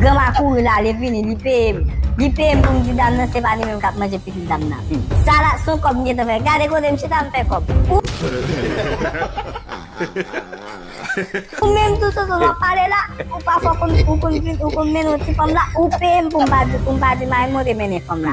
Granma kouri la ale vini li peyem li peyem poum di dam nan se pa li menm kap manje pitit dam nan sa la son kob m gentan fè gade kote m chita m fè kob ou menm tou soso wap pale la ou pa fò konn ou konn vin ou konn mennen yon ti fanm la ou peyem poum pa di poum pa di marim monte mennen fanm la.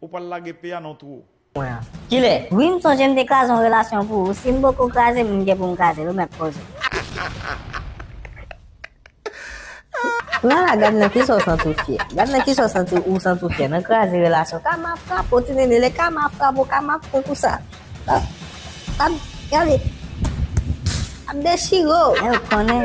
Ou pral lage pe a nan twou. Mwen an. Kilè? Wi m sonje m te kraze yon relasyon pou ou si m poko kraze m m gen pou m kraze l ou mèt poze. Lala gad nan kisa w santi w fyè gad nan kisa w santi ou santi w fyè nan kraze relasyon kama frape w ti nene lè kama ap frape w kama ap fè konsa ap gade ap dechire w men ou konnen.